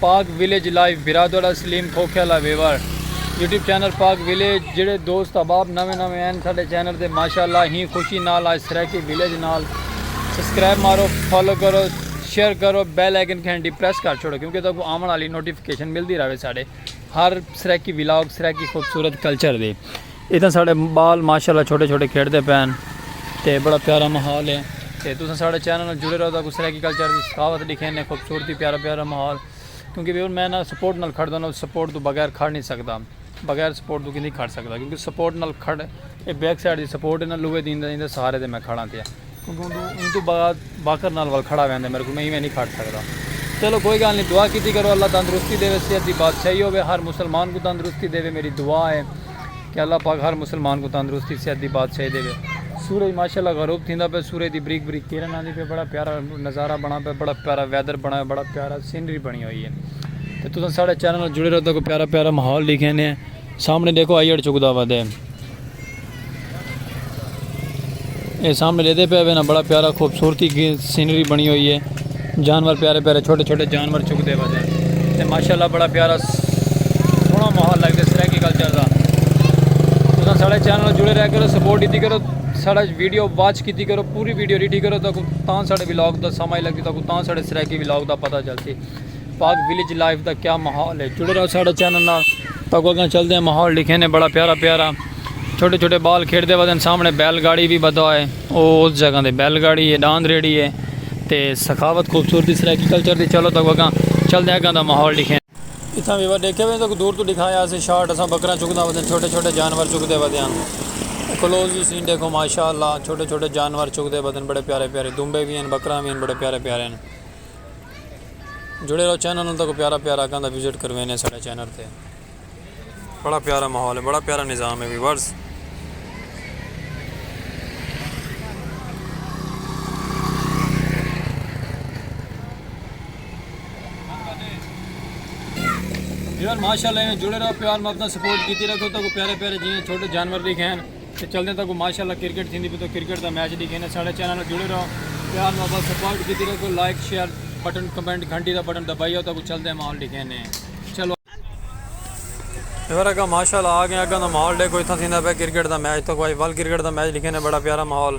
پاک village live بھرا تہاڈا سلیم کھوکھے آلا viewer YouTube channel Pak village جیڑھے دوست احباب نویں نویں این ساڈے چینل تے ماشاءاللہ ہی خوشی نال آج سرائیکی ویلیج نال سبسکرائب مارو فالو کرو شیئر کرو بیل آئیکن گھنٹی پریس کر چھوڑو کیونکہ تاکو آون والی نوٹیفیکیشن ملدی رہے ساڈے ہر سرائیکی ولاگ سرائیکی خوبصورت کلچر دے اتھاں ساڑے بال ماشاءاللہ چھوٹے چھوٹے کھیڈ دے پین تے بڑا پیارا محول ہے تے تساں ساڑے چینل نال جڑے رہو تاکو سرائیکی کلچر دی ثقافت ڈکھین نے خوبصورتی پیارا پیارا محول کیونکہ ویور میں نا سپورٹ نال کھڑ دا نا سپورٹ تو بغیر کھڑ نہیں سکدا بغیر سپورٹ تو کیندی کھڑ سکدا کیونکہ سپورٹ نال کھڑ اے بیک سائیڈ دی سپورٹ ہے نا لوہے دی اندے سہارے تے میں کھڑا تھیا۔ ایں توں بعد باقر نال ول کھڑا ویندے میرے کوں میں ایویں نی کھڑ سکدا چلو کوئی گالھ نی دعا کیتی کرو اللہ تندرستی ڈیوے صحت دی بادشاہی ہووے ہر مسلمان کوں تندرستی ڈیوے میڈی دعا ہے کہ اللہ پاک ہر مسلمان کوں تندرستی صحت دی بادشاہی ڈیوے سورج ماشاءاللہ غروب تھیندا پئے سورج دی بریک بریک کرن آندی پئے بڑا پیارا نظارہ بنا پئے بڑا پیارا ویدر بنا پئے بڑا پیارا سینری بنی ہوئی ہے تے تساں ساڈے چینل نال جڑے رہو تاکو پیارا پیارا ماحول ڈیکھینے۔ سامنے ڈیکھو آئیڑ چکدا وا دے اے سامنے لیدے پہ وینا بڑا پیارا خوبصورتی کی سینری بنی ہوئی ہے جانور پیارے پیارے چھوٹے چھوٹے جانور چک دے بجے تے ماشاءاللہ بڑا پیارا سونا ماحول لگ دے سرائیکی کلچر دا تساں ساڑے چینل جڑے رہ کرو سپورٹ دیتی کرو ساڑا ویڈیو واچ کیتی کرو پوری ویڈیو ریٹی کرو تاں ساڑے ویلاگ دا سمائی لگتی تاں ساڑے سرائیکی ویلاگ دا پتہ چلتی پاک ویلیج لائف دا کیا ماحول ہے جڑے رہو ساڑھے چینل نال تاکو اگاں چل دے ہیں ماحول لکھے نے بڑا پیارا پیارا چھوٹے چھوٹے بال کھیڑ دے ودن سامنے بیل گاڑی بھی بدا ہے او اس جگہ دے بیل گاڑی ہے ڈاند ریڑی ہے تے سخاوت خوبصورتی سرائیکی کلچر دی چلو تاکو اگاں چل دے ہیں اگاں دا ماحول لکھے ہیں اتھاں بھی ودے کیویں تاکو دور تو دکھائے ہیں اسے شارٹ اساں بکرہ چک دا ودن چھوٹے چھوٹے جانور چک دے ودے ہیں کلوز بھی سین دیکھو ماشاءاللہ چھوٹے چھوٹے جانور چک دے ودن بڑے پیارے پیارے دنبے بھی ہیں بکرہ بھی ہیں بڑے پیارے پیارے ہیں. جڑے رہو چینل نال تاکو پیارا پیارا اکاں دا وزٹ کروینے اساڈا چینل تے بڑا پیارا ماحول ہے بڑا پیارا نظام ہے ویورز ویور ماشاءاللہ جڑے رہو پیار محبت سپورٹ کیتی رکھو تاکو پیارے پیارے جینے چھوٹے جانور بھی کھین تے چلدیں تاکوں ماشاء اللہ کرکٹ تھیندی پئی توں کرکٹ دا میچ ڈیکھینے ساڈے چینل نال جڑے رہو پیار محبت سپورٹ کیتی رکھو لائک شیئر بٹن کمنٹ گھنٹی دا بٹن دبائی او تاکوں چلدیں ماحول ڈیکھینے چلو ہور اگاں ماشاء اللہ آ گئیں اگاں دا ماحول ڈیکھو اتھاں تھیندا پیا کرکٹ دا میچ تاکوں اج ول کرکٹ دا میچ ڈیکھینے بڑا پیارا ماحول۔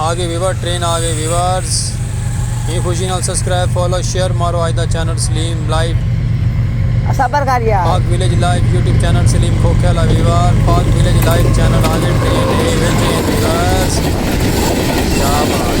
آگے ویور ٹرین آگے ویورز ہی خوشی نال سبسکرائب فالو شیئر مارو آج دا چینل سلیم لائیو صبر کر یار Pak village live YouTube channel Saleem کھوکھے لا viewer Pak village live channel آگے ٹرین اے ویچ اے ویورز کیا بات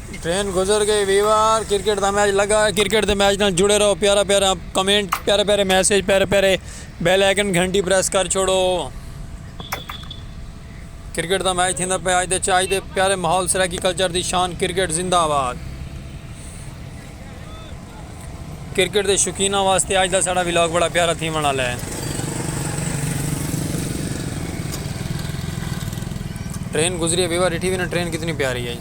ٹرین گزر گئی وی وار کرکٹ دا میچ لگا ہے کرکٹ دے میچ نال جڑے رہو پیارا پیارا کمنٹ پیارے پیارے میسج پیارے پیارے بیل آئیکن گھنٹی پریس کر چھوڑو کرکٹ دا میچ تھیندا پہ آج دے چاج دے پیارے ماحول سرائیکی کلچر دی شان کرکٹ زندہ آباد کرکٹ دے شوقیناں واسطے اج دا ساڈا ولاگ بڑا پیارا تھیونڑ آلا ہے۔ ٹرین گزری ہے بیوا ڈٹھی وی نا ٹرین کتنی پیاری ہے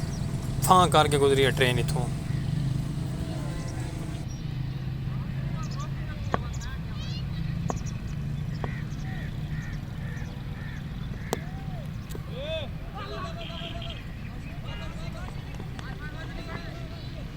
پھاں کر کے گزری ہے ٹرین اتھوں۔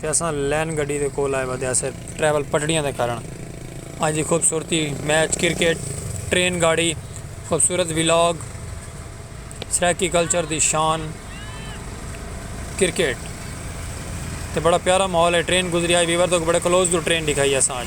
تے اساں لین گڈی دے کول آئے ودے آسے ٹریول پٹڑیاں دے کارن اج دی خوبصورتی میچ کرکٹ ٹرین گاڑی خوبصورت ولاگ سرائیکی کلچر دی شان کرکٹ تے بڑا پیارا ماحول ہے ٹرین گزری آئی ویور دے بڑے کلوز دو ٹرین ڈکھائی اساں اج۔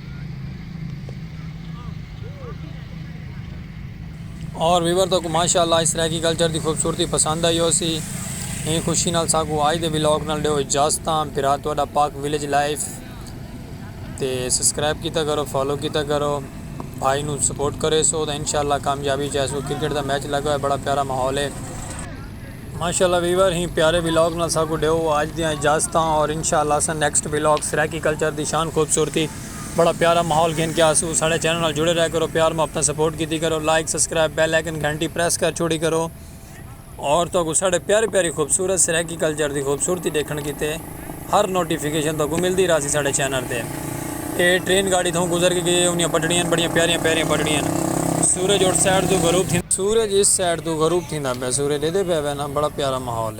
اور ویور تو کو ماشاءاللہ اس طرح کی کلچر دی خوبصورتی پسند آئی ہو سی ایں خوشی نال ساکو آج دے ویلوگ نال ڈیو اجازتاں بھرا تہاڈا پاک ویلیج لائف تے سبسکرائب کیتا کرو فالو کیتا کرو بھائی نو سپورٹ کرے سو تے انشاءاللہ کامیابی چاہے سو کرکٹ دا میچ لگا ہے بڑا پیارا ماحول ہے ماشاءاللہ ویور ہیں پیارے ولاگ نال ساکو ڈیو آج دیاں اجازتاں اور انشاءاللہ اساں نیکسٹ ولاگ سرائیکی کلچر دی شان خوبصورتی بڑا پیارا ماحول گھن کے آسوں ساڈے چینل نال جڑے رہ کرو پیار محبتاں سپورٹ کیتی کرو لائک سبسکرائب بیل آئیکن گھنٹی پریس کر چھوڑی کرو اور تہاکوں ساڈے پیاری پیاری خوبصورت سرائیکی کلچر دی خوبصورتی ڈیکھن کیتے ہر نوٹیفیکیشن تہاکوں ملدی رہسی ساڈے چینل تے۔ اے ٹرین گاڑی تھوں گزر کے گئی اے اونیاں پٹڑیاں ہن بڑیاں پیاریاں پیاریاں پٹڑیاں ہن سورج اٹھ سائیڈ توں غروب تھیندا۔ سورج اس سائیڈ توں غروب تھیندا پیا سورج ڈیدے پیا وے نا بڑا پیارا ماحول اے۔